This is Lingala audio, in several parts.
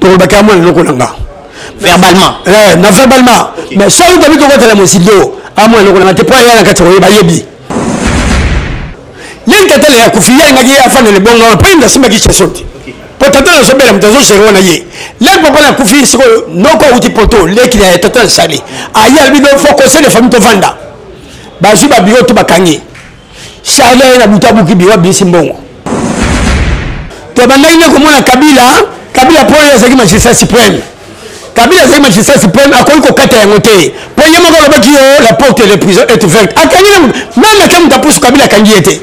tokolobaka ya mwana eloko na nga verbalement eh, na verbalement okay. mais soki tobi tokotala mosido amwana eloko na nga te mpo aya na kati ya koyeba yebi ye ntatala ya kofi ye alingaki ye afanda libongo wana mpo ye nde asimbaki cheson te mpo tata nazobela moto azogere wana ye leki papa na kufi sikoyo noko auti poto leki na tata na sali aye albi do fo conseil de famille tovanda bazwi babiro to bakangi charle aye na butu abuki biro abimisi mbongo tobandaki nde komona kabila kabila mpo oyo azalaki magistrat supreme kabila azalaki magistrat supreme akoki kokata yango te mpo ye moko alobaki yo la porte de prison est ouverte akangi na moto meme ata moto apusu kabila akangi ye te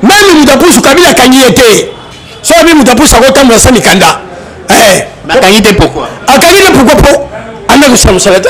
meme moto apusu kabila akangi ye te so abi moto apusu akotambola sa mikanda eh. akangi te pourkoi akangi te pourkoi mpo anda kosala mosala te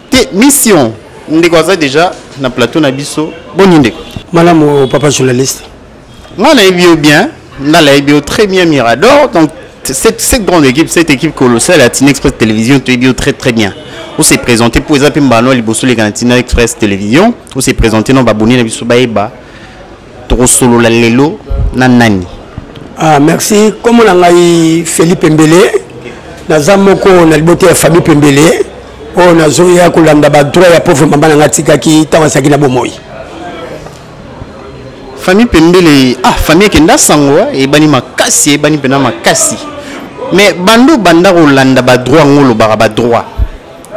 te mission ndeko aza deja na plateau na biso boni ndeko malamu papa journaliste nga nayebi yo bien nga nayebi yo très bien mirador donc cette, cette grande équipe cette équipe colossale ya tina express télévision toyebi yo très très bien ose présente mpo eza mpe mbano ya liboso oleka na tina express télévision ose présente na baboni na biso bayeba tokosolola lelo na nani ah, merci nkombo na ngai felipe mbele naza moko na libota ya famille pembele oyo nazoya kolanda badroit ya pauvre mama na ngai atikaki ntango azalaki na bomoi famille pembele ah famille ekenda sango ah, ebani makasi ebani mpena makasi mais bando banda kolanda badroit yango olobaka badroit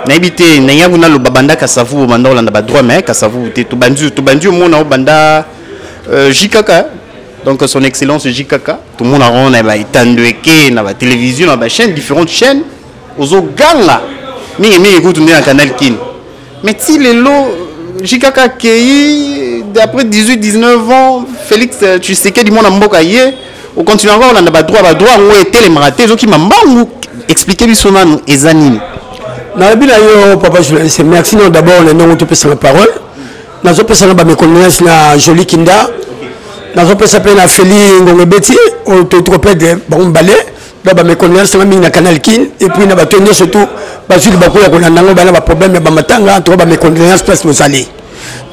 nayebi te ndenge yango naloba banda kasavu obanda kolanda badroit mais kasavu te tobandi tobandi omona obanda euh, jkk donc son excellence jkk tomonaka yango na baetando eke na batélévision na bachaîne différentes chaînes ozoganga mingimingi kutu nde na canal kin mais ti lelo jkk akei après 18 19 ans félix tshisekedi mwana mboka ye okontinue yango kolanda badroit badroit yango etelemaka te ezokima mbangu explike biso nanu eza nini nalobi na yo papa journaliste merci non d'abord na ndongo topesana parole nazopesa na bamekondoleance na joli kinda nazopesa mpe na feli ngongo ebeti oyo toyiti kopede bango mibale donc bamekondoleance nanga mingi na canal kin epuis na bato nyonso tu bazwi libaku ya kolanda yango bana baproblème ya bamatanga to bamekondoleance place bozali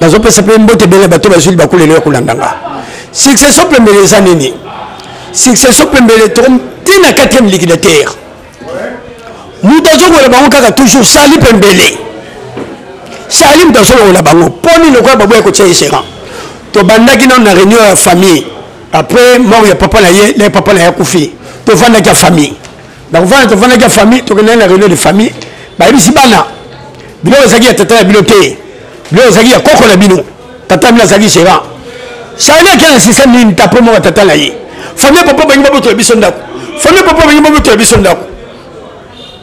nazopesa mpe mbote ebele bato bazwili bakulelo ya kolanda nga succession pembele eza nini succession pembele to ti na 4e liquidateur moto azongola bango kaka toujours sali pembele sali moto azongola bango mpo nini lokola baboya kotia ye gérant tobandaki nano na réunion ya famille après mort ya papa na ye na ye papa na ye akufi tofandaki ya famille nakofanda tofandaki ya famille tokendaki na réunion de famille bayebisi bana biloko ezalaki ya tata na bino te biloko ezalaki ya koko na bino tata na bino azalaki gérant charli ake na système nini tapo moko tata na ye famille papa bangi babotola biso ndako famille papa bangi babotola biso ndako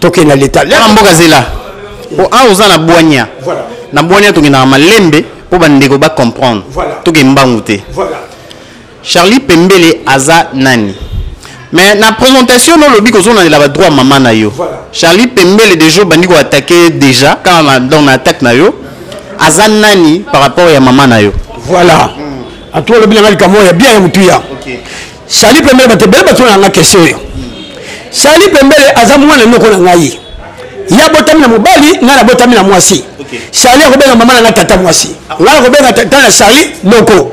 tokenda leta na mboka zela po a ah, oza na bwania na bwania tokendaka malembe mpo bandeko bacomprendre toke mbangu te Charlie Pembele aza nani? Mais na présentation no lobi kozo na la droit maman na yo. Voilà. Charlie Pembele déjà bandi ko attaquer déjà quand na dans na attaque na yo aza nani par rapport ya maman na yo. Voilà. Mm. Atoa lobi na likambo ya bien ya mutuya. Okay. Charlie Pembele ba te bele ba tona na question yo. Charlie Pembele aza mwana noko na ngai. Ya botami na mobali, ngai na botami na mwasi. Okay. Charlie akobenga mama na ngai tata mwasi. Ah. Ngai akobenga tata na Charlie noko.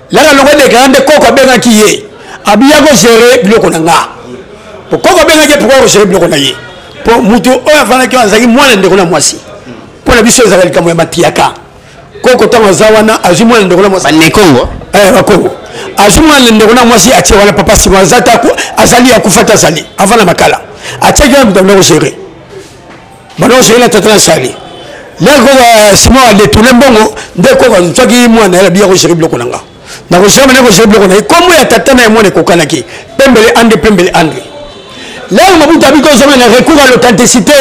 laka longo dekara nde koko abengaki ye abiya kogere biloko na nga po koko abengaki ye pourkoi kogere biloko na ye po motu oyo afandaki wana azalaki mwana ndeko na mwasi mpo na biso ezalaka likambo ya matiyaka koko ntango aza wana azwi mwana ndeko na mwasi banekongo eh, bakongo azwi mwana ndeko na mwasi atie wana papa sima azali akufa te azali avant na makala atiaki wana moto amina kogere bana oseki na tata na sali ndenge koka euh, simon adetourne mbongo nde koka nzwaki mwana yala biya koseki biloko na nga nakoshama nde koseki biloko na ye kombo ya tata na ye mwana ekokanaki pembele andre pembele andre lelo mabutu abiki ozonga na recours ya l'authenticité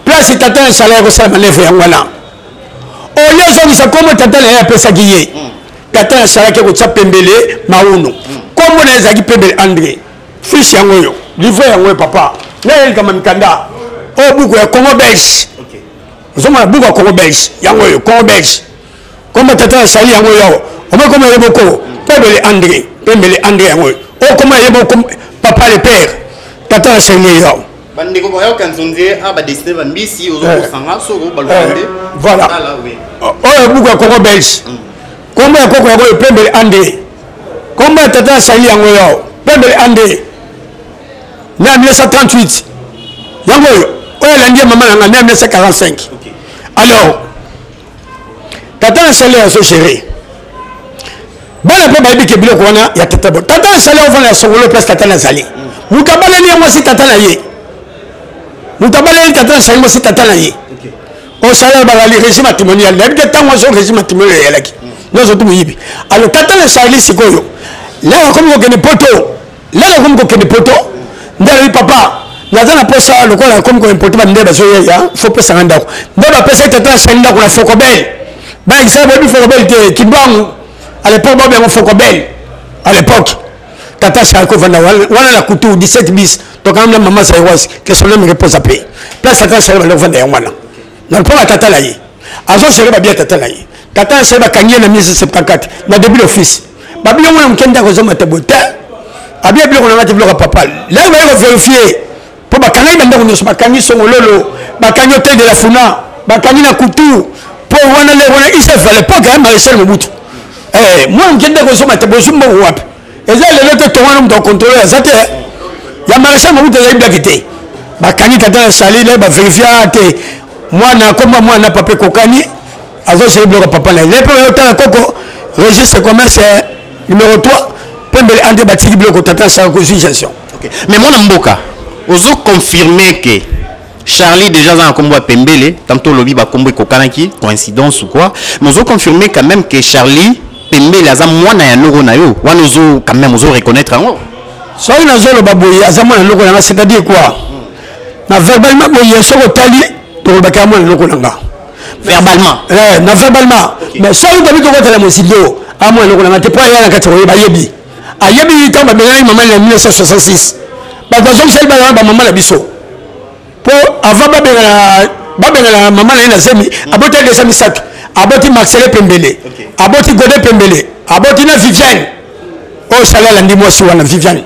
place tata na sala ya kosala manevre yango wana oyo ozongisa kombo tata na ye apesaki ye tata na salaki kotya pembele mauno kombo na ye ezalaki pembele andre fiche yango oyo livre yango oyo papa naye likama mikanda oyo buku ya congo belge ozomona buku ya congo belge yango oyo congo belge koma tata ya sali yango oyo awa omakoma ye boko pembele andre pembele andre yango oyo okoma ye boko papa le père tata ya sali ye awa bandeko bayoka nzonze a badesine bambisi ozokosanga soko balokande voilà oyo buku ya congo belge mm. kombo ya koko yango epembele ande kombo ya tata ya sali yango yo pembele ande na 1938 yango oyo oyo elandi ya mama na ngai na 1945 alors tata na sali azo gérer bana mpe bayebi ke biloko wana ya tata bo tata na sali ofanda ya songolo place tata nazali moto abaleli ye mwasi tata na ye moto abaleli tata na sali mwasi tata na ye osala ya balali régime matrimonial nayebi te ntango azo régime matrimonial eyalaki nyonso tu moyibi alo tata le charli sikoyo lelo akomi kokende poto lelo akomi kokende poto nde alobi papa naza na mposa lokola akomi koimporte bamindele bazoyeya fo pesanga ndako nde bapesaki tata ya charli ndako na fokobel baekisa boyebi fokobel te kimbangu à l'époque babengo fokobel à l'époque tata charli kovanda wana na kutu 17 bis tokanga na mama zairoise question na menge posa pe place ata solo bale kovanda yango wana na mpo na tata na ye azogere babia tata na ye tata na solo bakangi ye na 1974 na début d'office babia yango na moke ndako ezoma te boye te abia biloko na ngati biloko ya papa lelo baye koverifie mpo bakangaki bandako nyonso bakangi songololo bakangi hotel de la funa bakangi na kutu mpo wana lelo wana isef à l'époque ya maréchal mobutu eh, mwana moke ndako ezoma te bozwi mbongo wapi eza lelo te tongo wana moto akontrole aza te ya maréchal mobutu ezali blaki te bakangi tata ya sali na baverifia te mwana akoma mwana papa ekokani azoseli biloko papa na ye le mpe oyotala koko registre commerce eh, numéro 3 pembele ante batiki biloko tata asala consultation okay. mais mwana mboka ozo confirme ke charlie déjà aza na nkombo ya pembele tanto olobi bakombo ekokanaki coïncidence ou quoi mais ozo confirme quand même ke charlie pembele aza mwana ya loko na yo wana ozo quand même ozo reconnaître yango soki nazoloba boye aza mwana loko na nga c'est à dire quoi na verbalement boye soki otali tokolobaka ya mwana loko na nga verbalement eh, na verbalement okay. mais soki tobi tokotala mosidio a mwana loko na nga te mpo aya na kati koyeba ayebi ayebi ntango babengaki mama na 1966 bato bazongisaki bana wana bamama na biso po avant babengana babengana mama na ye na zemi mm. aboti adesa misato aboti marcele pembele aboti gode pembele aboti na viviane oyo oh, sali alandi mwasi wana viviane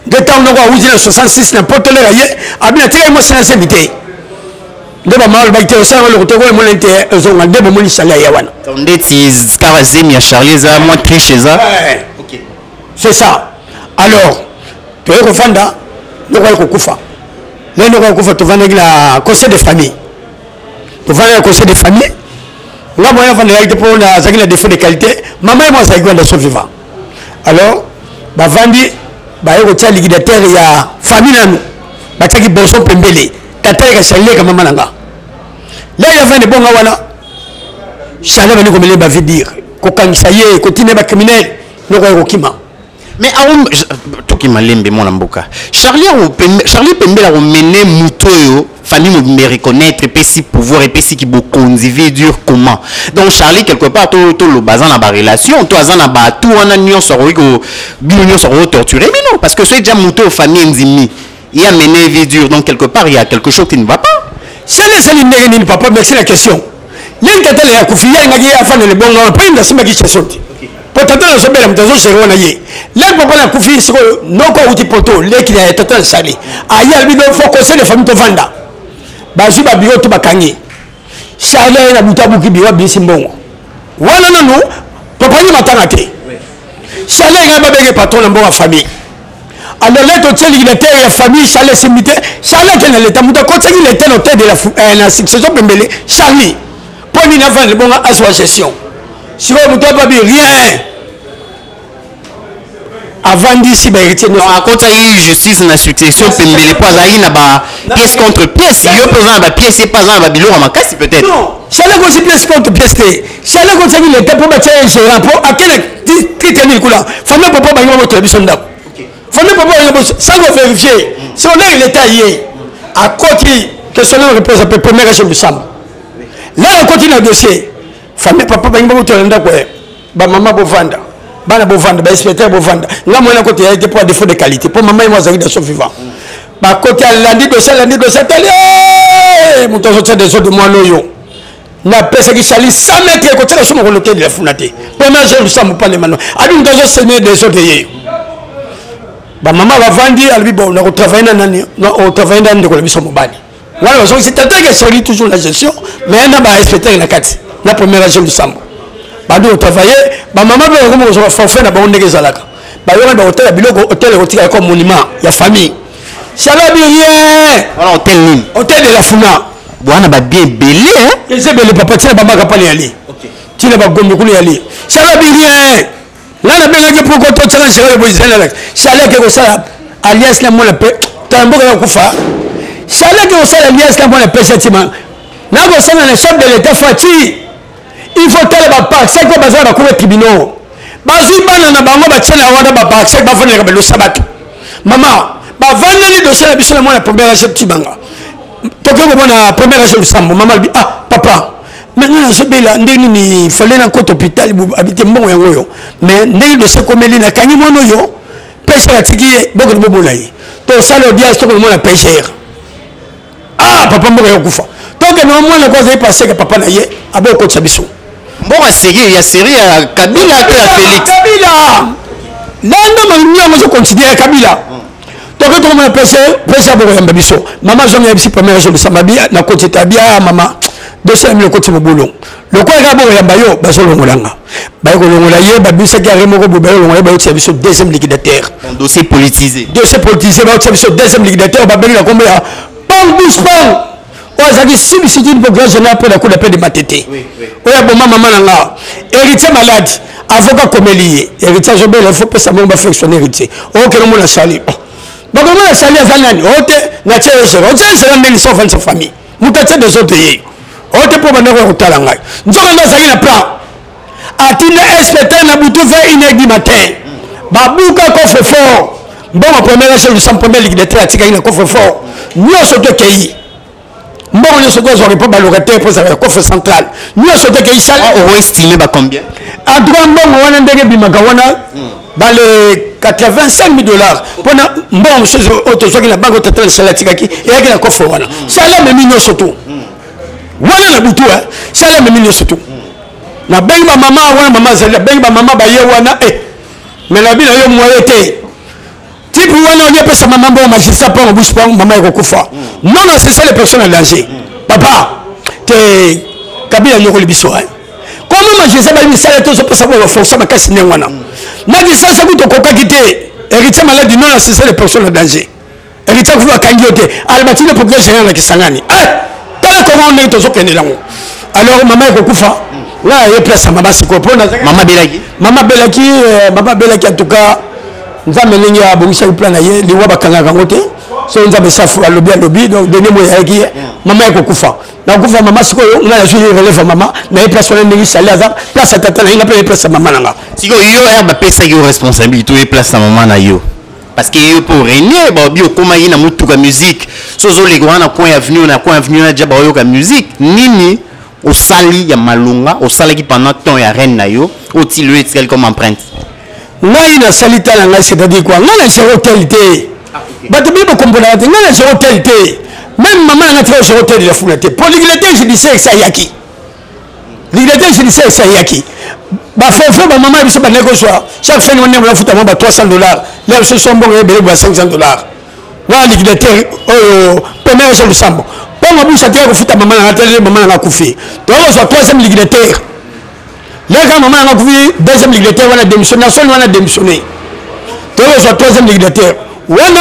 nde ntango noko awuti na 66 na potolera ye abina tika ye mwasi na zemi te nde bamama alobaki te osala eloko te koyemona te ezonga nde bomoni sali ya ye wana ndeti kaka zemi ya charlie eza mwa triche eza eh, eh. c'est ça alors toye kofanda noko aye kokufa le noko aye kokufa tofandaki na conseil de famille tofandaki na conseil de famille nga moyen afandaki te mpo nazalaki na défaut de qualité mama ye mo azalaki wanda so vivant alors bavandi baye kotya liquidateur ya famille nanu batyaki boso pembele tata ye kasalileka mama na nga lei afandi bonga wana charle bani komele bavidir kokangisa ye kotina bacriminele noko ya kokima mais aum toki malembe mwana mboka charlie charlie pembela komene moto oyo fami mobimba reconnaître epesi pouvoir epesi ki bokonzi vie dure comment donc charlie quelque part toloba aza na barelation to aza na batou wana nyonso akoki bino nyonso akoki torture bino parce que soki ja moto oyo fami endimi ya mene vie dure donc quelque part il y a quelque chose qui ne va pas sene esali ndenge nini papa merci la question ye ntatala ya kufi ye alingaki ye afanda libongo wana mpani nasimbaki question te mpo tata nazobela moto azosere wana ye leki papa na kufi sikoyo noko auti poto leki na tata nasali aye alobi do fo conseil de famille tovanda bazwi babiro to bakangi charle aye na butu abuki biro abimisi mbongo wana nanu papa nde matanga te charle engai babenge patron na mbongo ya famille alors leta otieliki na terre ya famille charle esimbi te charle ake na leta moto akotisaki leta na hotel de la eh, na succession pembele charlie mpo nini avanda libonga azwa gestion sikoyo moto ababi rien avandisi baheritier akotisaki justice na succession pembele mpo azalaki na ba pièce contre pièce yo mpe oza na ba pièce ye mpe aza na babiloko makasi peut-être charle akosi pièce contre pièce te sala ekotisaki leta mpo batya ye gérant mpo akela titre nini kuna famille papa bangi babotola biso ndako famille papa bangi babotola sans ko vérifier c'est honneur leta ye akoti question nano réponse mpe première age mosamba la akoti na dossier famille papa bangi babotola ndako ye bamama bovanda bana bovanda bainspecteur bovanda nga mwana koti ya ye te mpo ya défaut de qualité mpo mama ye mo azalaki daso vivant bakoti alandi dossier alandi dossier atali moto azotya desordre mwana oyo napesaki sali 100 mètre ekotyaka so mokolo te lefuna te première jour lusambo pale mano abi moto azosemie desordre yeyo bamama bavandi alobi bo nakotravaille na nani otravaille na ndeko na biso mobali wana bazongisi tateke soli toujours na gestion mais na bainspecteur na kati na première jour lusambo bandi kotravaille bamama mpe bakomi kozwa forfait na bango ndenge ezalaka bayokani bakotala biloko hotel ekotika yako monument ya famille Shalom rien. Voilà hôtel nini? Hôtel de la Funa. Bwana ba bien belé. Hein? Eza belé papa tina bamba kapale yali. OK. Tina ba gombe kule yali. Shalom rien. Là na benga ke poko to tsana shalom bo zela la. Shalom ke ko sala alias la mola pe. Tambo ka kufa. Shalom ke ko sala alias la mola pe chatima. Na ko sala le chef de l'état Fatih. il faut tala baparcek oyo baza na bakour ya tribunal bazwi bana na bango batye na wana baparcek bafandelaka balosa bato mama bavandeli dosie na biso na mwana première age tibanga tokoki komona première age lusambo mama alobi ah papa maintenant nazobela ndenge nini fale na kota hôpital abite mbongo yango oyo mais ndenge dosie ekomeli nakangi mwana oyo pêcheur atiki ye bokende bomona ye tosala audience tokomona pêcheur ah papa mboka yokufa toke na mwana ko azali paseke papa na ye abo okotisa biso mboka seri ya seri ya kabila to ya felix kabila nando malingi yango ezokonsidere kabila toke tokomona pese pese abokoyamba biso mama zonga ya bisi pamela zolisa mabi na koti tabia mama dosi ya milo koti mobulu lokola kaka bokoyamba yo bazolongola nga baye kolongola ye babisaki arre moko boye baye kolongola ye bayotia biso deuxième liquidateur dossier politisé dossier politisé bayotia biso deuxième liquidateur babengi na kombo ya pang bus pang oyo azalaki substitut mpo grand général mpo na coup d'appel de matete oyo aboma mama na nga héritier malade avocat komeli ye héritier azobela il faut pesa mongo bafectionne héritier okokende omona sali bakomona sali aza nani ote natie ezela otie ezela ndenge lisa ofandisa famille moto atie desordre ye oyo te mpo bandako ya kotala ngai nzoka nde azali na plan atinda inspecteur na butu ve ineg du matin babuka coffre fort mbongo premier age lusan premier ligue de tre atikaki na coffre fort nyonso tokei mbongo nyonso tozwaka mpo balocataire mpo ezalaka coffre central nyonso tokei sale ah, oestime bacombien en tout cas mbongo wana ndenge ebimaka wana hmm. bale 85 mille dollars mpona mbongo mosusu oyo tozwaki na banke otatala sala atikaki eyaki na kofre wana sala memi nyonso tu wana na butu eh. sala memi nyonso tu nabengi bamama wana mama azali nabengi bamama baye wana e eh. me nabi na yo moye te Type wana olie pesa maman bon magistrat pas en bouche pas maman ekokufa. Non non c'est ça les personnes en danger. Papa te kabila nyokoli biso hein. Comment magistrat ba misala to so pesa ba forcer makasi ndenge wana. Na distance kuto kokaki te. Héritier malade non non c'est ça les personnes en danger. Héritier kufa kangi te. Albatine pour que général na Kisangani. Eh tala comment on est tozo kende lango. Alors maman ekokufa. Là, il y a place à maman Siko. Maman Belaki. Maman Belaki, euh, maman Belaki en tout cas. nzambe ndenge abongisaki plan na ye liwa bakangaka yango te so nzambe safu alobi alobi donc denie moye ayaki ye mama ya kokufa nakokufa mama sikoyo ngai nazwi ye relève ya mama naye place wana ndenge sali aza place ya tata na ye nga mpe naye place ya mama na nga sikoyo yo ya bapesaki yo responsabilité oye place na mama na yo parce que yo mpo orenie baobi okomaki na motuka musique so ozoleka wana na coin ya avenue na coin ya avenue na ja baoyoka musique nini osali ya malonga osalaki pendant temps ya reine na yo otili oyo etikali comme empreinte ngai nasali ta na ngai c'est-à-dire quoi ngai na gero tel te ah, bato bi bokomponaka te ngai na gero tel te même mama na ngai tika gero tel elafuna te mpo liglete judiciaire esi ayaki liglete judiciaire esi ayaki bafefe bamama ya biso bandaki kozwa chaque fin de mois nde bafuta mwa ba 300 dollars lelo biso so mbongo ebele bwa 500 dollars wana liquidateur oyo première jean lusambo mpo mabusa te akofuta mama nanga te mama nanga akufi tokozwa troisième liquidateur leka mama nanga akufi deuxième liquidateur wana démissionne na soni wana démissionne tokozwa troisième liquidateur wana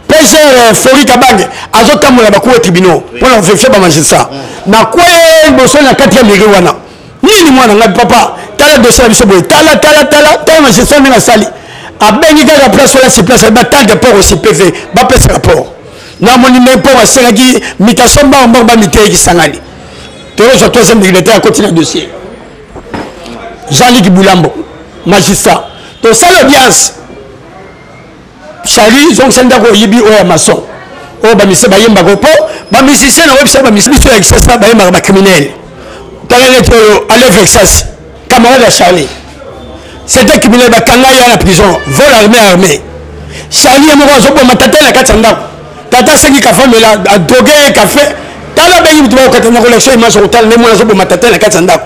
pgr euh, flori kabange azotambola bakuwa tribunaux mpo na koverifie bamagistrat nakwei liboso na quatrième degré wana nini mwana ngai papa tala dossier na biso boye tala tala tala tala na gestion ndenge asali abengi kaka place wana si place batante port osi pv bapesa rapport namoni nde mpo basengaki mitation mbango mbango bamiteyi kisangani tokozwa troisième dignitaire akoti na dossier jean liki bulambo magistrat tosala audience Charlie zongisa ndako oyibi oyo ya maçon oyo bamise bayembaka mpo bamusicien na oyebisa bamise biso ya kisasa bayembaka bacriminele tala neti oyo ale vexas camarade ya charlie c'était criminel bakanga ye na prison vol armé armé charlie ye moko azoboma tata na kati ya ndako tata asengi kafamela adroge ye kafe tala bengi moto bakokata na collection image okotala nde mwana azoboma tata na kati ya ndako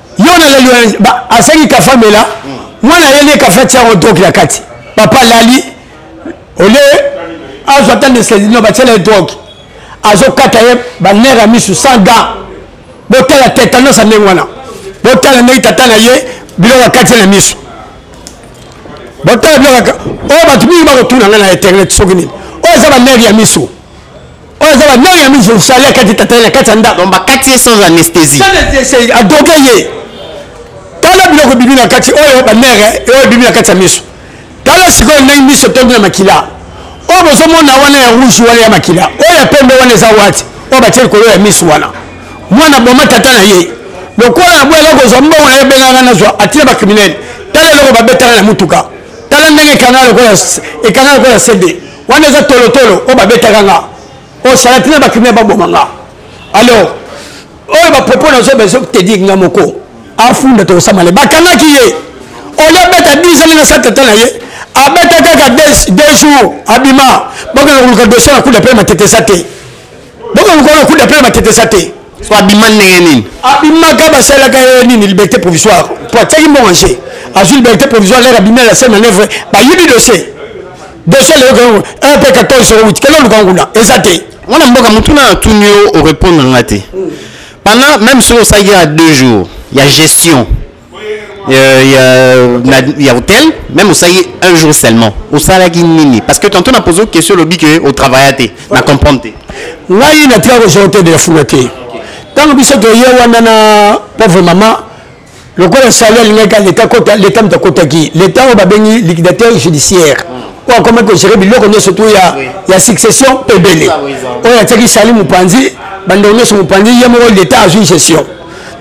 yo na lelo asaki kafa mela mwana ye nde kafa tia yango droke na kati papa alali olie azwa ata nesedino batiela ye droke azokata ye banere ya misu sans gant botala tetanos ya ndenge wana botala ndenge tata na ye biloko akati ye na misu botala biloko oyo bato mingi bakotuna ngai na internet soki nini oyo eza banere ya misu oyo aza banani ya miso osali akati tatali na kati ya ndako bakati ye sans anesthésie adoke ye tala biloko ebibi na kati oyo banere oyo ebibi na kati ya miso tala sikoyo ndenge miso etondi na makila oyo bozomona wana ya rouge wana ya makila oyo ya pembe wana eza wati oyo batie likolo ya miso wana mwana boma tata na ye lokola na boyaka kozwa mbongo na ye benganga nazwa atina bakriminele tala eloko babetaka na motuka tala ndenge ekanga lokola cd wana eza tolotolo oyo babetaka nga oyo salati na bakriminel baboma nga alors oyo bapropos nazoba ezotediki nga moko afunda tokosamale bakangaki ye olia beta 10 ans na satata na ye abeta kaka 2 jours abima bakanga koluka dossier na kuda mpe matetesa te bakanga koluka na kuda mpe matetesa te so abima ndenge nini abimaka basalaka ye nini liberté provisoire po atiaki mbongo nje azwi liberté provisoire lere abimi na la scène manœuvre bayibi dossier dossier leyoka yango un pe 14 jours wuti kende oluka nguna eza te mwana mboka motuna na tuni yo orépondre nga te hmm. pendant même soki osalaki ya deux jours ya gestion euh, il y a hôtel, même au Saïe, un jour seulement. Au Salagi Nini. Parce que tantôt, on a posé une question, lobby, que au travail, on a compris. Là, il y a un hôtel de la Foulate. Tant que je suis là, on a pauvre maman, lokola sali alingaki leta kota leta moto akotaki leta oyo babengi liquidateur judiciaire mm. oyo akomaki kogere biloko nyonso to ya, ya succession ebele oyo atiaki sali mopanzi bandeko nyonso mopanzi ye moko leta azwi gestion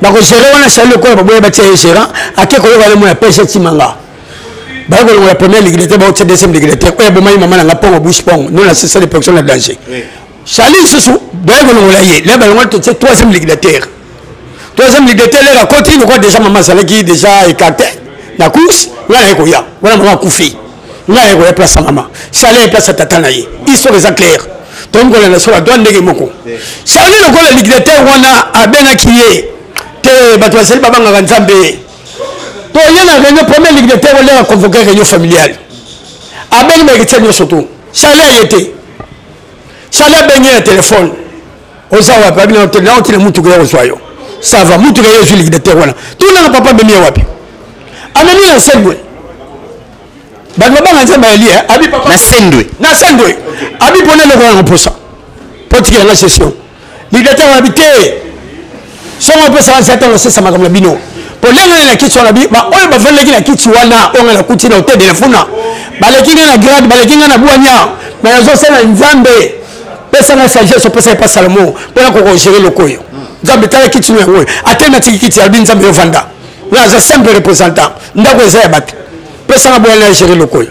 na kogere wana sali lokola baboya batia ye gérant ake koyoka lemo ya pese timanga baye kolongola premier liquidateur baotia deuxième liquidateur oyo abomaki mama na nga mpongo bush mpongo no na sesale proction na danger Charlie lisusu baye kolongola ye le balongola totie troisième liquidateur troisième liquidateur lere akoti lokola déjà mama azalaki déjà écarté na course ngai naye koya wana mama akufi ngai naye koya place ya mama charlie ye place ya tata na ye histoire eza claire tokomi kolanda sola doa ndenge moko charlie lokola liquidateur wana abengaki ye te bato bazali babangaka nzambe ye to ye na réunion premier liquidateur oleka convoquer réunion familiale abengi bayeketia nyonso to charlie aye te sali abengi na telefone oza wapi abi naoti na mutuka ya kozwa yo sava mutuka ye ezwi ligidatere wana tunanga papa amemi ye wapi amemi na sendwe bato babanga nzambe ayeli abi papa na sendwe na sendwe abi mpona eloko yanga mposa mpo tikela nga session Liberté wana bite. Soma pesa wa zata lo sesa makambo na bino. Polenge na kiti wana bi ba oyo bavandaki na kiti wana onga na kuti na hotel de la funa. Baleki nga na grade, baleki nga na buania. Mais nazo sala nzambe. Pesa na sagesse, pesa epa Salomo. Pona ko gérer lokoyo. Nzambe tala kiti no yango. Ate na tiki kiti albi nzambe yo vanda. Nga za simple représentant. Ndako eza ya batu. Pesa na boya na gérer lokoyo.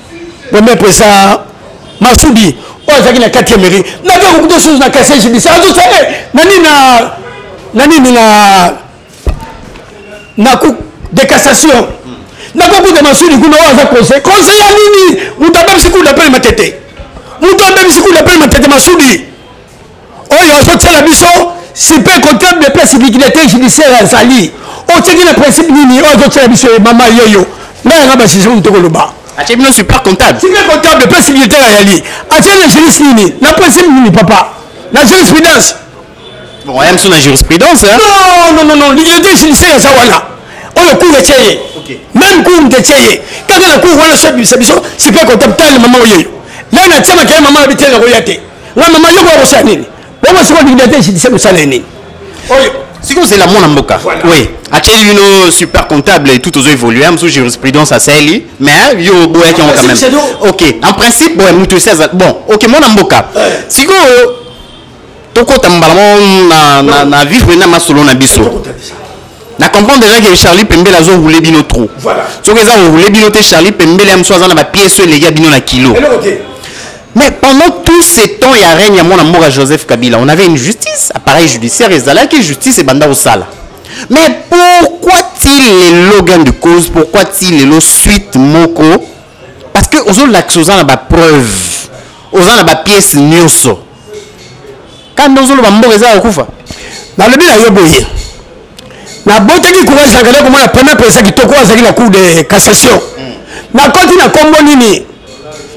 bombe mpesa masudi oyo azalaki na kati ya mairie nabe kokuta susu na kasi ya jibisi azosa e eh, na nini na na nini na na cour de cassation nakokuta masudi kuna oyo aza conseil conseil ya nini moto abebisi cour d'appel matete moto abebisi cour d'appel matete masudi oyo azotyela biso sipe kotem de place dignité judiciaire azali otyeki na principe nini oyo azotyela biso ye mama yeyo ngai yanga basize moto tokoloba atie bino super comptable super comptable place dignité ayali atie na juriste nini na principe nini papa na jurisprudence bon aya biso na jurisprudence non non non non dignité judiciaire aza wana oyo cour etye ye même cour nde etye ye kaka na cour wana so ebimisa biso super comptable tala mama oyeyo lana atyamaka ye mama na bitele nakoya te nga mama yoko akosala nini bongo sikoyo dignité judiciaire kosala ye nini oyo sikoyo ozela mwana mboka oui atyeli bino super comptable et tout ozo évolue hein, mosusu jurisprudence asaeli mais hein, yo oboyaki yango quand même ok en principe boye moto esi aza bon ok mwana mboka sikoyo tokota mbala moko na, na, na vivre na masolo na biso na comprendre déjà que charlie pembele azo roule bino trop voilà. soki eza roule bino te charlie pembele ya mosusu aza na bapiese oyo eleki ya bino na kilo mais pendant tout ce temps ya règne ya mwana mboka joseph kabila on avait une justice appareil judiciaire ezalaki justice ebanda kosala mais pourquoi ti lelo gain de cause pourquoi ti lelo suite moko parce que ozolakisa oza na bapreuve oza na bapiese nyonso kanda ozoloba mboka eza ya kufa nalobi na yo boye nabotaki courage na kanda komona premier president kitoko azalaki na cour de cassation nakoti na kombo nini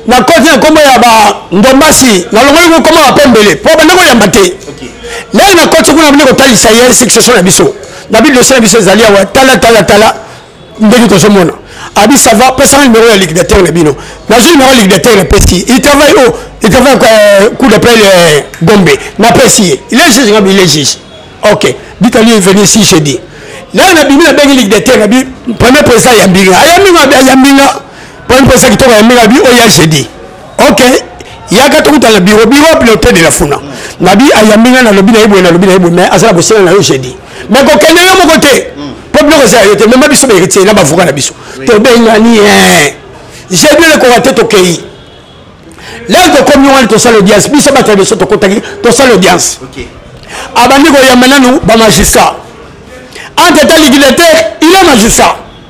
nakoti na kombo ya bandombasi nalongoli ngo kombo ya pembele mpo banda koyamba te lelo nakoti kuna bandi kotalisa ye succession na biso na bidosie na biso ezali awa tala tala tala ndenge tozomona abi ça va pesanga numéro ya liquidateur na bino nazwi numéro ya liquidateur na pesi il travaille o il travaille euh, coup d'appel euh, gombe na pesi ye il est juge ngabi il est juge ok bitali venu ici jeudi lelo na bimi nabengi liquidateur na bi premier président ayambi nga ayambi nga ayambi nga premier président kitoko ayambi nga bi oya jeudi ok yaka tokuta na biro biro wapi na hotel de la funa nabi ayambi ngai nalobi na ye boye nalobi na ye boye mais aza na bosenga na yo jeudi mais kokende yo moko te mpo biloko eza ya yo te mema biso baeritye na bavoka na biso tobengani ye jeudi elekoka te tokei lelo tokomi wana tosala audience biso bato ya biso tokotaki tosala audience abandi koyamba nanu bamagistrat entre ta ligidateur il est magistrat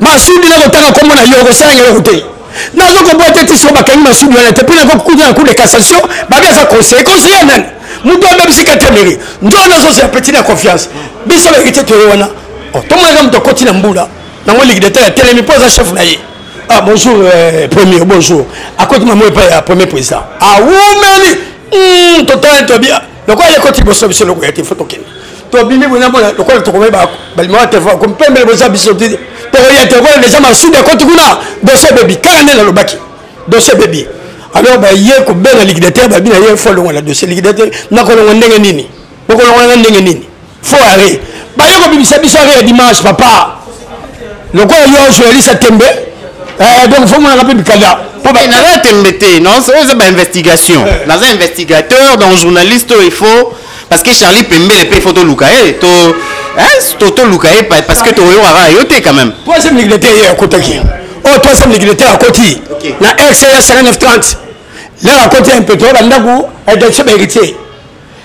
masudi nakotanga kombo na yo okosala ngai eloko te nazokobwata te siko bakangi masudi wana te mpo nakokuta na cour de cassation babi aza conseiller conseiller nani moto abebisi katemeli nzoka nazozela petit na confiance biso baekite toye wana oh, tomonaka moto akoti na mbula nango ligidateur atelemi mpo aza chef na ye ah, bonjour euh, premier bonjour akoti mamo epai ya premier président awumeli ah, hmm, totali tobi lokola ekoti liboso biso lokoya te fo tokende tobimi bona mona lokola tokomai balimaka telefone akomi pembele boza biso te tokoya te lokola deja masudi ekoti kuna dosi ebebi kaka nde nalobaki dosi ebebi alors baye kobela liquidateur babi na ye fo longola dosi liquidateur nakolongo ndenge nini bokolongola nga ndenge nini fo are baye kobimisa biso are ya dimanche papa lokola yo journaliste ya tembe eh, donc fo monaka mpe mikanda eh, naza ya tembe te oyo eza bainvestigation eh. naza investigateur donc journaliste oyo il faut parce que charlie pembele mpe il faut toluka ye to totoluka ye parce que toyokaka yo te quand même troisième ligue de te ye akotaki oyo troisième ligue de te akoti na rca 5930 lelo akoti ya mpeto bandako adakisa baheritier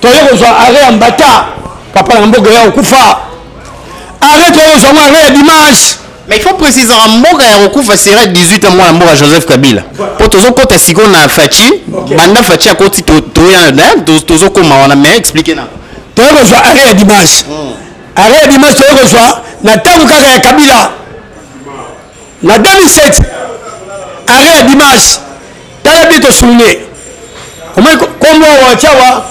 toye kozwa arret ya mbata papa na mboka ya kokufa arret toye kozwa ngo arret ya dimanche mais il faut préciser en mboka ya kokufa sera 18 ans mwana mboka joseph kabila mpo tozokɔta sikoyo na faci banda faci akoti toya tozokoma wana mais explike na toye kozwa arret ya dimanche hmm. arret ya dimanche toye kozwa na ntango kaka ya kabila Na 2007, arret ya Dimanche, tala bien to souligner. Omoni kombo awa tiawa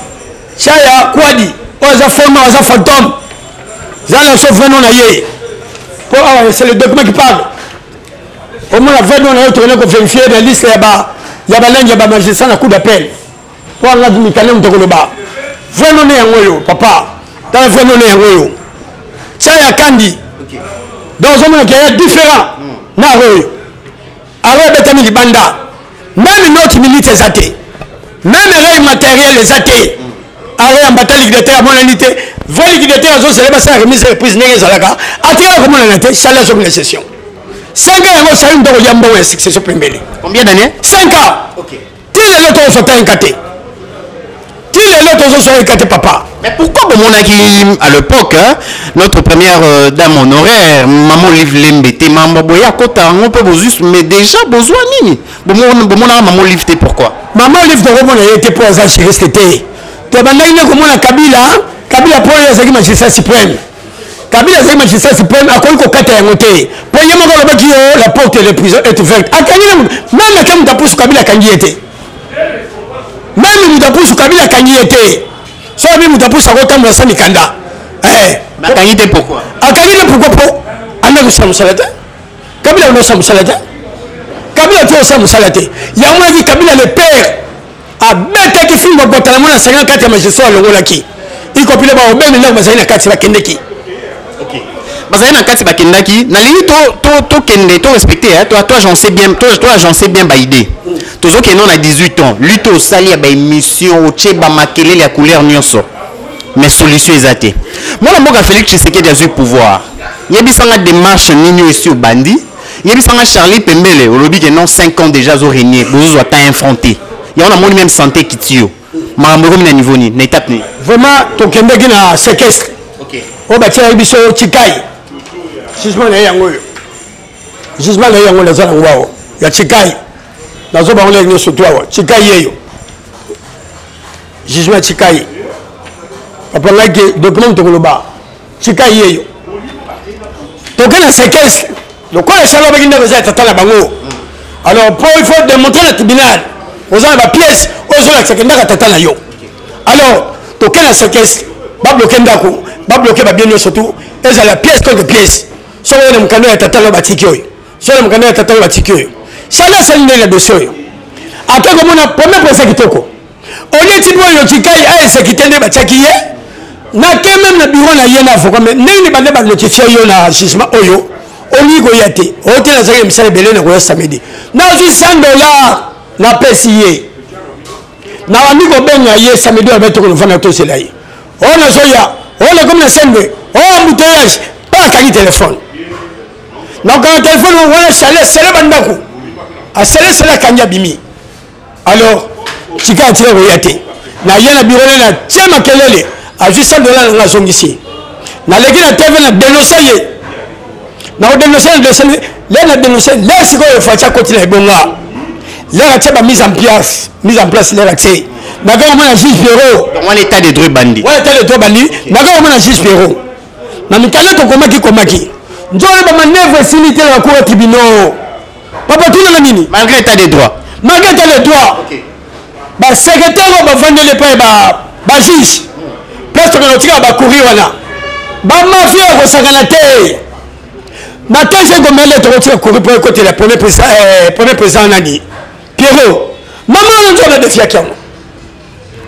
Chaya Kwadi, oyo aza fond nom, aza fantôme. Zala na biso vrai nom na ye. Po awa c'est le document qui parle. Omona vrai nom na yo tokende ko vérifier na liste ya ba ya balangi ya ba magistrats na cour d'appel. wana na mikale moto akoloba vrai none yango oyo papa tala vrai none yango oyo tia ya kandi donc ozomona ke ya différent na yango oyo alors ebetami libanda meme note minute eza te meme rei matériel eza te alors yambata liquidateur amonani te vrai liquidateur azozela basala remise reprise ndenge ezalaka atikala komonana te sali azobina session 5 ans yango osali moto akolia mbongo ya succession pembele combien d'année 5 ans okay. ti lelo tokosota ye nka te ti lelo tozoswa ye nka te papa Mais pourquoi bomonaki à l'époque hein, notre première euh, dame honoraire maman Olive Lembe te mamba boya kota yango mpe bozwi mais déjà bozwa nini Bomon- bomonaka maman Olive te pourquoi mama olive tokomona ye te mpo aza juriste te tobandaki nde komona kabila kabila mpo oyo azalaki magistrat supreme kabila azali magistrat supreme akoki kokata yango te mpo ye moko alobaki yo la porte de prison est ouverte akangi na meme ata moto apusu kabila akangi ye te meme moto apusu kabila akangi ye te so abi moto apusu akotambola sa mikanda eh. akangi te pourkoi akangi te pourkoi mpo anda kosala mosala te kabila anda kosala mosala te kabila te osala mosala te yango yaki kabila le père abetaki fimbo botala mwana asengaki kati ya magistrat alongolaki ikopile baobemi ndako bazali na kati bakendeki bazali na kati bakendaki nalingi tokende to, to respecte eh, to, to agence bien, to, to agence bien baide tozokende na 18 ans lute osali ya baémission otye bamakelele ya couleur nyonso mais solution eza te mwana mboka félix tshisekedi azwi pouvoir yebisanga démarche nini oyo esi obandi yebisa nga charlie pembele olobi ke non 5 ans déjà azo régner bozozwa temps infronté yango namoni même santé ekiti yo makambo ekomi na niveau nini na étape nini vraiment tokendeki na séquestre oyo batiaki biso chikai jugement na ye yango oyo jugement na ye yango naza nango awa ya chikai nazo bango ndenge nyonso tu awa chikai yeyo jugement ya chikai papa ngai ke document tokoloba tika ye yo toke na sequence lokola esi alobaki ndako eza ya tata na bango alors po il faut démontrer na tribunal oza na bapièce oyo ezolakisaka ndako ya tata na yo alors toke na sequence babloke ndako babloke babie nyonso tu ezala pièce contre pièce soki oyo na mokanda ya tata na yo batiki oyo soki na mokanda ya tata na yo batiki oyo sala asali ndenge na dossier oyo ata komona premier procès kitoko oleti boye lotikai aesekite nde batiaki ye nake meme na biro na ye na avocat me ndenge bande banotifie yo na jugement oyo olingi koya te ote nazalaki na misala ebele na koya samedi nazwi 100 dollar napesi ye nabandi kobenga ye samedi oyo abetoko novanda tosela ye oyo oh, nazoya oyo oh, nakomi na sembe oyo oh, embouteillage mpe akangi telefone nakokanga telefone wana sale sale bandako asale sale akangi abimi alors tika atika koya te naye na biro nene atie makelele azwi 100 dola nanga azongisi naleki na tv na denonse ye nakodenonse na denonse le na denonse le sikoyo faci akoti na ebonga lere atie ba mise en place mise en place lere atie nakaka mona juge pierrot wana etat de droit bandi wana etat de droit bandi nakaka mona juge pierrot na mikanda tokomaki komaki nzolo bamanevre esili te na bakura tribunaux papa tuna na nini malgré état de droit malgré état de droit okay. ba secrétaire oyo bavandeli epai ba juge place tokana otikala bakuri wana bamafia ya kosangana te na kese komele tokotika kuri mpo ekotela premier président eh, nani pierrot mama wana nzoka defiaki yango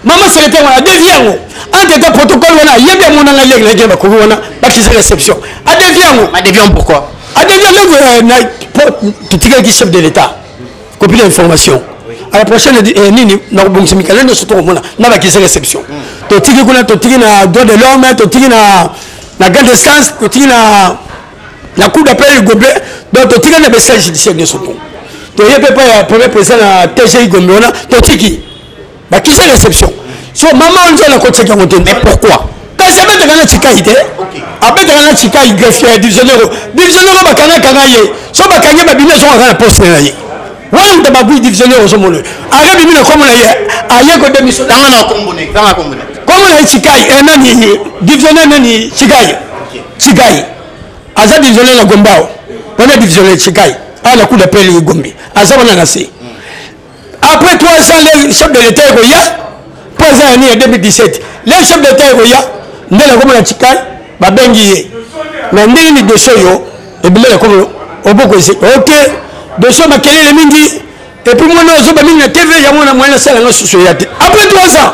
mama selete yango adevie yango entre temps protocole wana ayebi yango nanga leki na ekele bakoki wana bakisa réception adevie yango adevie yango pourquoi adevie yango euh, totikalaki chef de l'état copie ya information à la prochaine eh, nini nakobongisa mikanda nyonso tokomona na bakisa réception totiki kuna totiki na droit de l'homme totiki na na grande instance totiki na na cour d'appel le goblet donc totikali na besage judiciaire nyonso to toye mpe mpa ya premier président na tgi gombe wana totiki bakisa réception so mama wana nzela nakotisaki yango te mais pourquoi kasi abetaka na cikai te abetaka na cikai greffier ya divisionnaire divisionnaire bakangakanga ye so bakangi babimi azongaka na poste na ye wanda babwi divisionnaire ozomona aka bimi na kombo na ye aye kodemisonanga na kombo na ye cikai eh, nani divisionnaire nani cikai cikai aza divisionnaire na gombao wana divisionnaire cikai awa na kuda pele gombe aza wana na se après 3 ans le chef de l'état ekoya mpo aza ya nini ya 2017 le chef de l'état ekoya nde nakomona tikali babengi ye na ndenge nini doso yo ebele nakomo obokoise ok doso makelele mingi epuis mwana ozoba mingi na tv yango na mwana asala nga susu eya te après 3 ans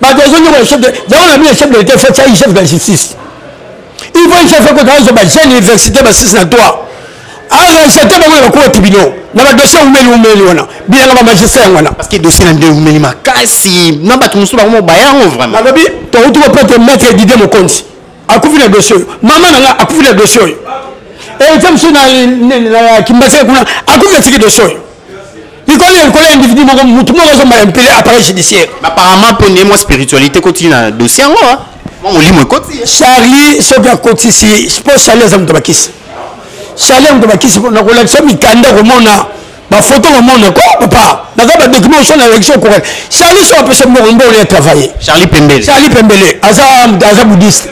bato ezonyoka le chef de yango na bino chef de l'état faut tiai chef de la justice il faut chef ekota azo ba jeune université ba 6 na 3 arachete bango na bakoti bino na badossier umeli umeli wana bilanga bamagistrat yango wana parceke dossier na nde umeli makasi na bato mosusu bango mobaya yango vraiment alobi touti kopete maître didie mokonzi akufi na dossier oyo mama na nga akufi na dossier oyo etia mosusu na kimbaseke kuna akufi na tiki dossier oyo likolo ya likolo ya individu moko motu moko azomba ya mpele appareil judiciaire apparemment mpo nde mwa spiritualité ekoti na dossier yango ah. mwa molimo ekoti eh. charlie soki akotisi mpo charlie aza moto bakisi charlie ya moto bakisi mpo nakolakisa mikanda komona bafoto komona ko papa naza badocument oso na election okokaki charlie so apesa moko mbolo ya travaille charlie pembele charlie pembele aza aza boudiste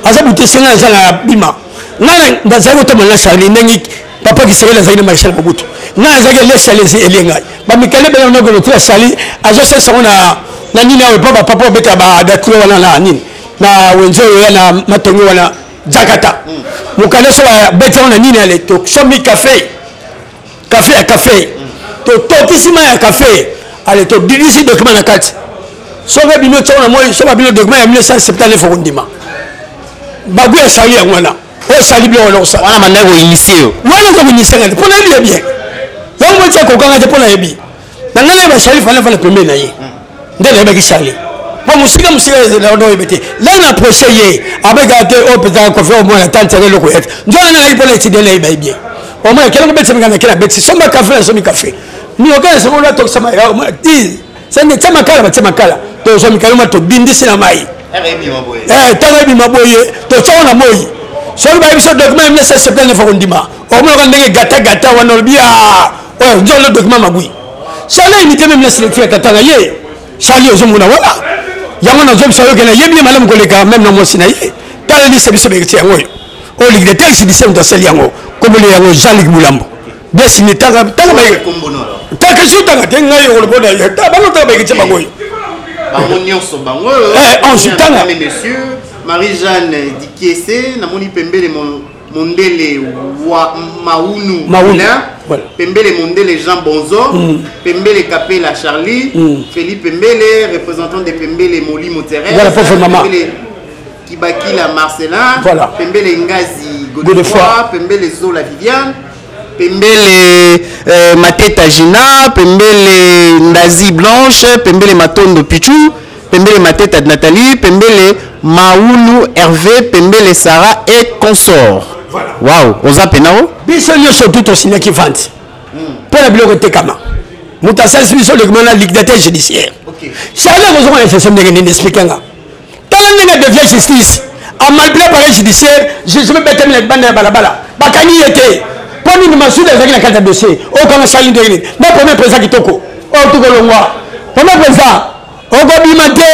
aza boudiste ngai aza na bima ngai nazali kotambola na charlie ndenge papa kisengeli azali na marechal mobutu ngai azalaki elesi alesi elie ngai bamikale bena nogelo ti asali azosalisa yango na nini awa epa bapapa obeta badatio wana na nini na wenze oyo ya na matongi wana jakata mokanda so babeti yango na nini ale tosomi kafe kafe ya kafe totokisi mai ya kafe ale todidisi document na kati soki bino tiango na moi so babino document ya 1979 okondima bagu ya sali yango wana osali biloko na kosala wana mandaki koinisie yo wana eza koinisie ngai te mpo nayebi ye bien yango moti akokanga te mpo nayebi na ngai nayeba charli fana fana pembeni na ye nde nayebaki charli mpo mosika mosika naoyebi te la na proche ye abeka te oyo mpenza kofi omona tante yaka eloko ya te nzoka ngai nayebi mpo na etidie nayebi ye bien omona kela kobetisa minga na kela betisi somba kafe na somi kafe mioka na sango olatokisama sende tia makala batia makala tozwa mikaloma tobindisi na mai ntango eh, ebima boye totyako na moi soki bayebi biso document ya 19 septembre nefa kondima omonaka ndenge gatagata wana olobi a ah, oyo nzolo document mabui sala unité meme naselekti ya tata na ye sali ozomona wana yango nazobisa yoke nayebi ye malamu koleka meme na mwasi na ye tala lise biso bekiti yango oyo oyo ligue de tel sidise moto asali yango komoli yango jean lig bulambo Yes, mais tanga tanga ba kombo no alors. Tanga je tanga te ngai yolo bona ya ta ba no tanga ba kiche bango. Bango nyonso bango. Eh, on se tanga. Mais monsieur Marie-Jeanne Dikiese na moni pembele mon mondele wa maunu voilà. pembele mondele jean bonzo mm. pembele kapela charlie mm. feli pembele représentant de pembele molimo terrestre voilà, kibakila marcelin voilà. pembele ngazi godefoi pembele zola viviane pembele euh, mateta gina pembele ndazi blanche pembele matondo pichu pembele mateta nathalie pembele maulu herve pembele sara et consort voilà. wow oza pena o biso nyonso tu tosignaki vente mpo hmm. na biloko etekama moto asalisi biso lekoma na liquidateur judiciaire okay. charle kozonga na efeso ndenge nini explike nga tala ndenge adevia justice amalpla pareil judiciaire jugement ebetami na libanda ya balabala bakangi ye te mpo nini masuda ezalaki na kati ya dossier okanga sali ndenge nini na premier président kitoko oyo tokolongwa premier président okobima te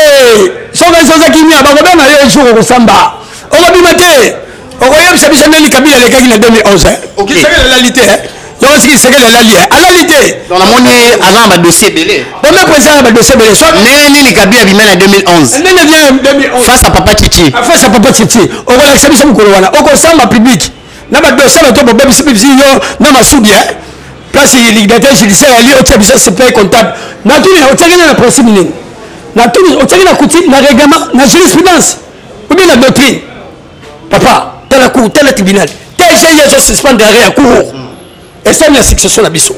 soki soza kimia bakobena yo jour okosamba okobima te okoyebisa biso ndeni kabila alekaki na 2011 eh? okisaki elali te eh? yango siki sekele alali eh? alali te namoni aza na badossier ebele bombe president na badossier ebele so ndenge nini kabila bima na 2011 ndenge abima na 2011 face à papa titi ah, face à papa titi okolakisa biso mokolo wana okosamba public na badossier bato bobebisi bibisi yo na masudi eh? place liquidateur judiciaire ali otia biso supply comptable natuni otiakene na principe nini natuni otiaki na coutume na règlement na jurisprudence obi na doctrine papa tala cour tala tribunal tge ezo suspendre arrêt ya cour esali na succession na biso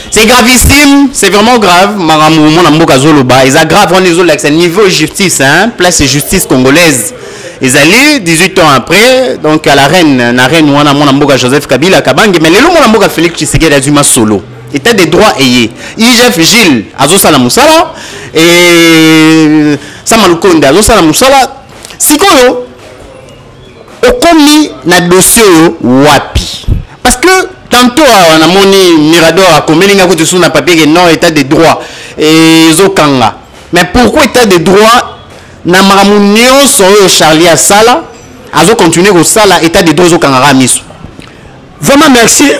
c'est gravissime c'est vraiment grave makambo omona mboka azoloba eza grave wana ezolakisa niveau justice hein? place justice congolaise ezali 18 ans après donc à la reine na reine wana mwana mboka joseph kabila kabange mais lelo mwana mboka félix tshisekedi azwi masolo état de droit eye igf gilles azosala mosala e sama lukonde azosala mosala sikoyo okomi na dossier oyo wapi parce que tantôt awa namoni mirador akomeli ngai kutu su na papier ke non état de droit ezokanga mais pourquoi état de droit na makambo nyonso oyo charlie asala azokontinue kosala état de droit ezokangaka miso vraiment merci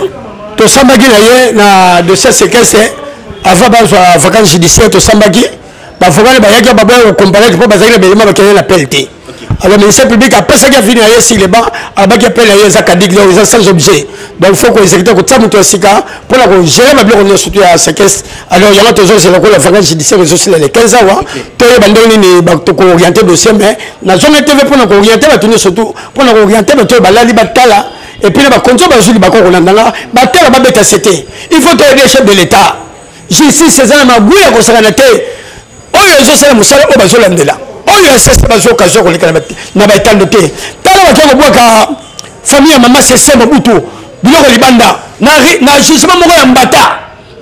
tosambaki na ye na dossier sekese avant bazwa vacance judiciaire tosambaki bavokale bayaki baboya kokomparete mpo bazalaki na belema bakende na pele te alors ministère public apesaki avini na ye sur le banc alobaki apele na ye eza kadik donc eza sans objet donc faut koexécuta kotia moto ya sika mpo na kogere babiloko nyonso to ya sekes alors yango tozozela lokola vacance judiciaire ezosila le 15 awa toyeba ndenge nini tokooriente dossier mais nazonga tv mpo na kooriente bato nyonso tu mpo na kooriente bato oyo balali batala epuis na bakonzi oyo bazwi libakoko na ndanga batala babeta sete il faut toyede chef de l'état justice eza na maguya ya kosakana te oyo ezosala mosala oyo bazolandela oyo ya sese bazwa okazio ya koleka na baetando te tala bato ya kobwaka famille ya mama sese mobutu biloko libanda na jugement moko ya mbata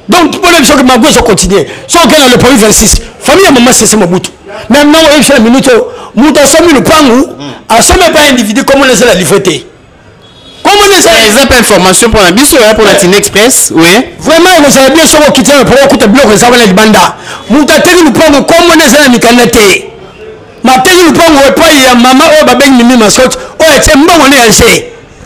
donc mpona biso mago ezo continue so okei na lepoli 26 famille ya mama sese mobutu mais nango oyebisa na minute oyo moto asomi lopangu asomi epai individu komona ezala livre te eza pe information mpona biso ya mpona tine express oui vraiment ekozala bien soko okiti na mpo okuta biloko eza wana libanda moto ateki lupango nkombo nde eza na mikanda te mateki lupango epai ya mama oyo babengi mimi mascote oyo atie mbongo nde ya nse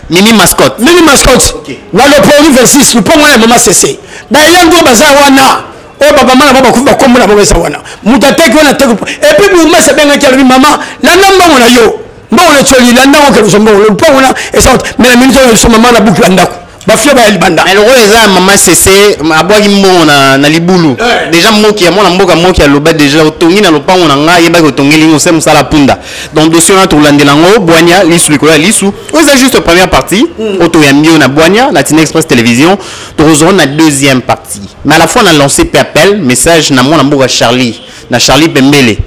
mimi mascote mimi mascote waloponi 26 lupango wana ya mama sese bayangi oyo baza wana oyo bamama na bango bakufi bakombo na bango eza wana moto ateki wana ateki epuis bourgmestre abengaki alobi mama landa mbongo na yo mbongo na coli la ndako okelusa mbongo lopango na esante me na minute oyo lisoma mama na buki la ndako bafia baya libanda mais lokola eza mama sese abwaki mbongo na, na libulu eh. deja moki ya mwana mboka moki aloba deja otongi na lopango na ngai yebaki otongeli ngo se mosala punda donc dossier wana tokolandela yango bwania lisu likolo ya lisu oyo eza juste première partie mm. oyo toyambi yo na bwania na tina express télévision tokozwa na deuxième partie mais à la fois na lancé pe appel message na mwana mboka charlie na charlie pembele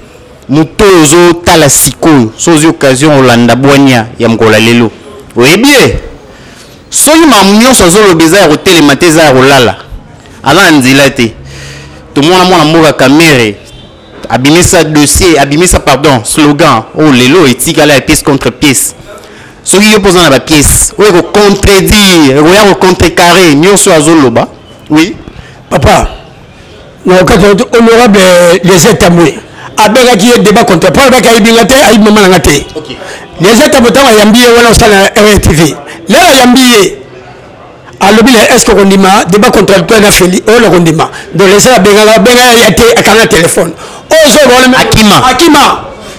moto oyo ozotala sikoyo so ozwi occasion olanda bwania ya mokolo ya lelo oyebi ye soki mamu nyonso azoloba eza ya kotelema te eza ya kolala aza na nzela te tomona mwana mboka kamere abimisa dossier abimisa pardon slogan oyo oh, lelo etikala ya pièce contre pièce soki yo mpo oza na bapièce oyo ekocontredire ekoya kocontrecarre nyonso oyo azoloba oui papa na okati na honorable euh, lese tambwe abengaki ye débat contre po alobaki ayebi nga te ayebi mama na nga te lese tambwe ntango ayambi ye wana osala na rtv lelo ayambi ye alobi na eske okondima débat contradictoire na feli oyo nakondima donc lese abengaka abenga ya te akanga telefone oyo zoba wana akima akima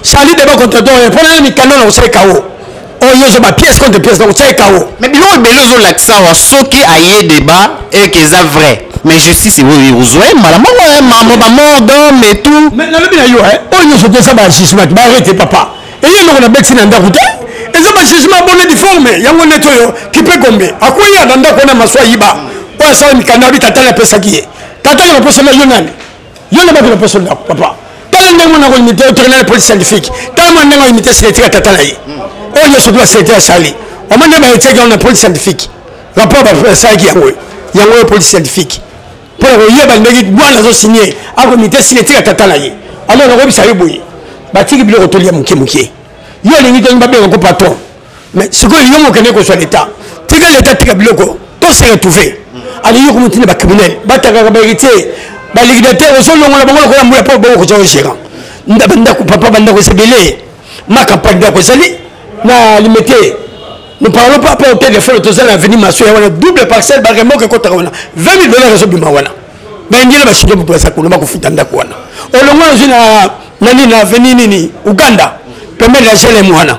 sali débat contradictoire mpo na mikanda na kosala kao oyo ozo ba pièce contre pièce donc tie kawo mais biloko ebele ozolakisa awa soki aye débat eke eza vrai mais justice oyo ozwa ye mbala moko ye mambo bamort d'homme et tout mais nalobi na yo oyo nyonso te eza bajugement te baarete papa eye eloko na beti na ndako te eza bajugement bone diforme yango neti oyo kipe gombe akweya na ndako wana maso ayiba oyo asala mikanda abi tata na apesaki ye tata na baposana yo nani yo nde bakilo mposo ndako papa tala ndenge mwana ko imite otokenale police scientifique tala mwana ndenge oimite seletike ya tata na ye oyo nyonso tula selete ya sali wama nde baetiaki yango na police scientifique rapport basalaki yango yango oyo police scientifique mpo na koyeba ndenge bwana azosinie akomite seletike ya tata na ye alors nakoyebisa yo boye batiki biloko tolia moke moke yo olingi tolingi babenga ko patron mais sikoyo yo mokende kozwa leta tika leta tika biloko to se retrouve alingi komotina bacriminel batangaka baheritier baligidateur ozolongola bango lokola mbula mpo bango kozwa ogérant bandako papa bandako ezebele ma campagne ndako ezali na limete nous parlons pas mpo telefone toza na aveni maso ya wana double parcelle baremoko ekotaka wana 20 000 dollar ezobima wana baindele basuki moto baza kuna bakofuta ndako wana olongo azwi na nani na aveni nini uganda pembeni ya gelem wana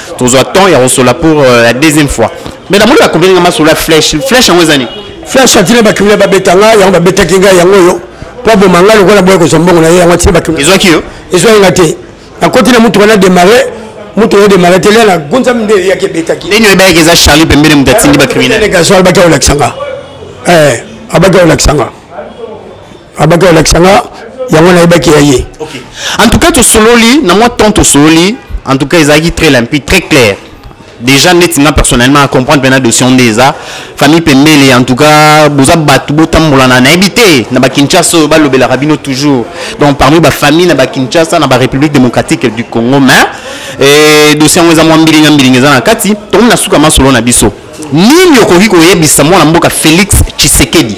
tozwa temps ya kosola pour euh, la deuxième fois mais namoni bakobeli nga masolo ya flèche flèche yango eza nini flèche atina bakimina babeta nga yango babetaki nga yango oyo mpo aboma nga lokola boya kozwa mbongo na ye yango atina bakimina ezwaki yo ezwaki nga te nakoti na motuka na démarre moto oyo démarre te lia na gonza minde eyaki ebetaki ndenge oyebaki eza charlie pembele moto atindi bacriminel gaso abaki aolakisa nga abaki aolakisa nga abaki alakisa nga yango nayebaki ya ye okay. en tout cas tosololi na mwa temps tosololi en tout cas ezalaki très limpide très clair déjà neti nga personnellement à comprendre mpena dosion nde eza famille pembele en tout cas boza bato botambolana nayebi te na bakinshasa oyo balobelaka bino toujours donc parmi bafamille na bakinshasa na barépublique démocratique du congo mais eh, dosie yango eza mwa mbilinga mbilinga eza na kati tokomi na suka masolo na biso nini okoki koyebisa mwana mboka félix tshisekedi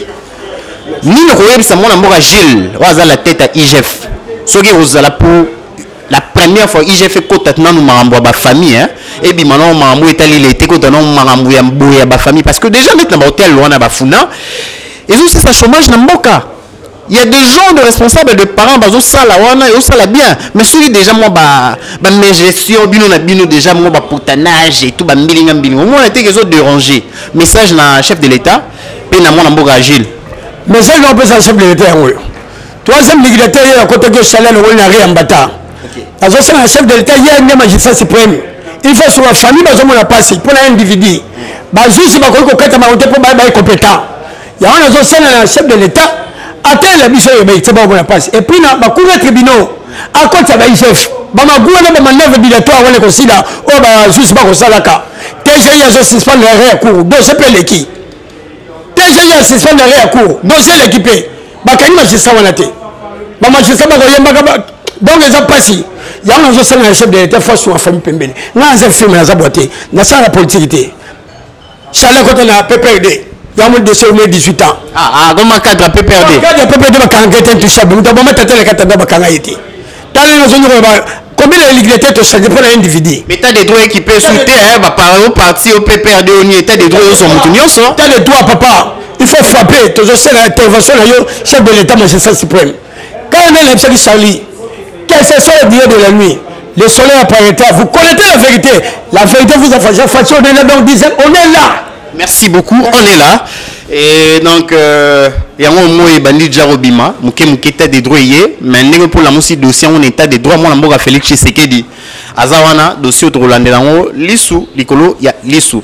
nini okoyebisa mwana mboka gile oyo aza la tete ya igf soki ekozala pour la première fois igf ekota nanu makambo ya bafamille hein? ebima nango makambo etali lete ekota nango makambo ya boye ya bafamille parce que déjà neti na bahotel wana bafuna ezosisa chômage na mboka il y a des gens de responsables de parents bazosala wana eosala bien mais soki déjà mwa bamegestion bino na bino déjà mwa bapotanage etout bambilinga mbilinga omona teke ezoderange message na chef de l'état mpe na mwana mboka agile message na kopesa chef de l'etat yango oyo troisième dictateur ye akotaki osali alongoli na reambata azosenga na chef de l'etat ye nde magistrat suprême il faut soba famille bazomona mpasi mpo na individu bazuzi bakoki kokata bango te mpo baye baye compétent yango nazosenga na chef de l'etat ateyela biso oyo baite bakomona mpasi epuis na bacour ya tribunaux akotisa ba igf bamagua na bamanœuvre dilatoire wana ekosila oyo bazusi bakosalaka tgi azo suspendre arret ya cour dossier mpe eleki tgi a suspendre arret ya cour dossier eleki mpe bakangi magistrat wana te bamagistrat bakoyembaka donc eza mpasi yango nazosala na chef de l'état face na famille pembeni ngai naza filme naza bwa te nasalaka politike te Chala kota na PPRD. Yamu de sur 18 ans. Ah ah, goma cadre PPRD. Cadre PPRD ba kanga tete tout ça. Muta boma tata le kata ba kanga yete. Tala na zonyo ba combien de ligue tete ça dépend d'un individu. Mais t'as des droits équipés sous terre, ba par au parti au PPRD on y était des droits sur mutu nyonso. T'as des droits papa. Il faut frapper, toujours c'est l'intervention là yo chef de l'état magistrat suprême. Quand on est qui Charlie, quel ce soit le dieu de la nuit, le soleil apparaît, vous connaissez la vérité. La vérité vous a fait, fait on est là, donc disait, on est là. Merci beaucoup, on est là. Et donc, euh, yango moi ebandi déjà kobima moke moke état des droits eye mais ndenge mpolamu si dossier yango na état des droits mwana mboka félix tshisekedi aza wana dossier oyo tokolandela yango lisu likolo ya lisu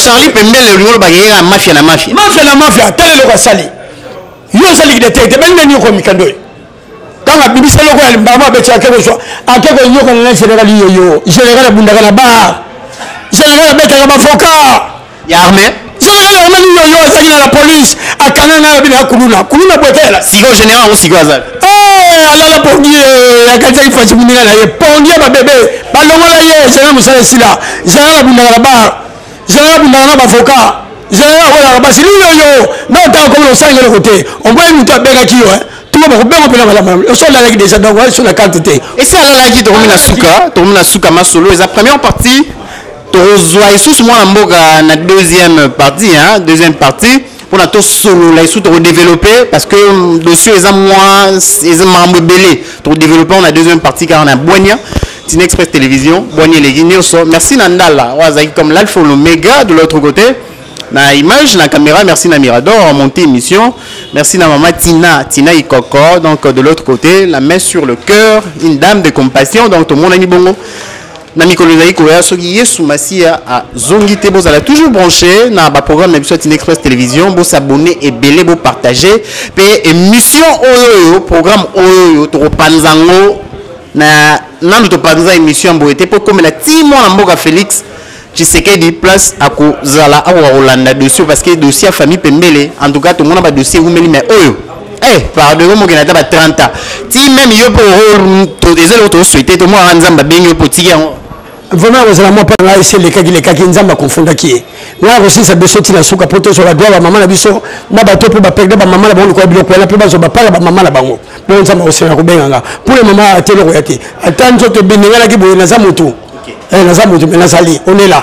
charli pembele olingi oloba yeyeka mafia na mafia mafia na mafia ata eloko asali yo osali kidetete bengani yoko mikando oyo ntango abimisa eloko ya mbamo abeti ake kozwa ake koyokana na général yoyo général abundaka na bar général abetaka bavoka ya arme omoni yoyo azalaki na la police akanga ngai abina ya kuluna kuluna bwetela siko général yango siko azali eh, alala pongi eh, akanisaki fasi moninga na ye pongi ya babebe balongola ye général mosala esila général abundaka na bar général abundaka na bavocat général akolaka basi liyoyo na otanga komona osalaki eloko te omoni moto abengaki yo eh. tuma bakobenga mpena malamu oso alalaki déjà donc aso na karte te esi alalaki tokomi na suka tokomi na suka masolo eza première partie tokozwa lisusu mwana mboka na deuxième partie hein, deuxième partie mpona tosolola lisusu tokodeveloppe parce que mm, dossier eza mwa eza makambo ebele tokodeveloppe na deuxième partie kaka na bwania tina express télévision bwania eleki nyonso merci na ndala oyo azalaki comme l'alpha l'omega de l'autre côté na image na caméra merci na mirador monté émission merci na mama tina tina ikoko donc de l'autre côté la main sur le cœur une dame de compassion donc tomonani bongo na mikolo ezali koya soki yesu masiya azongi te bozala toujours branché na baprogramme na biso ya tine express télévision bosabone ebele bopartage mpe émission oyo oyo programme oyo oyo tokopanza yango na nanu topanza émission ya boye te mpo ekomela ti mwana mboka félix tshisekedi place akozala akoka kolanda dossier parce que dossier ya famille pembele en tout cas tomona badossier ewumeli mai oyo Eh, pardon yo mokende ata ba 30 ans ti meme yo mpo eza eloko tosuete to mwana nzambe abengi yo mpo otiki yango vraiment akozala mwa mpo ngai esi elekaki lekaki nzambe akofundaki ye ngai akosilisa biso ntina suka mpo tozwala dwa bamama na biso na bato mpo baperde bamama na bango lokola biloko wana mpe bazwa bapala bamama na bango mpo nzambe akosenga kobenga nga mpo le mama ateloko ya te ata nzoto ebenenganaki boye naza motu eh, naza motu me nazali onela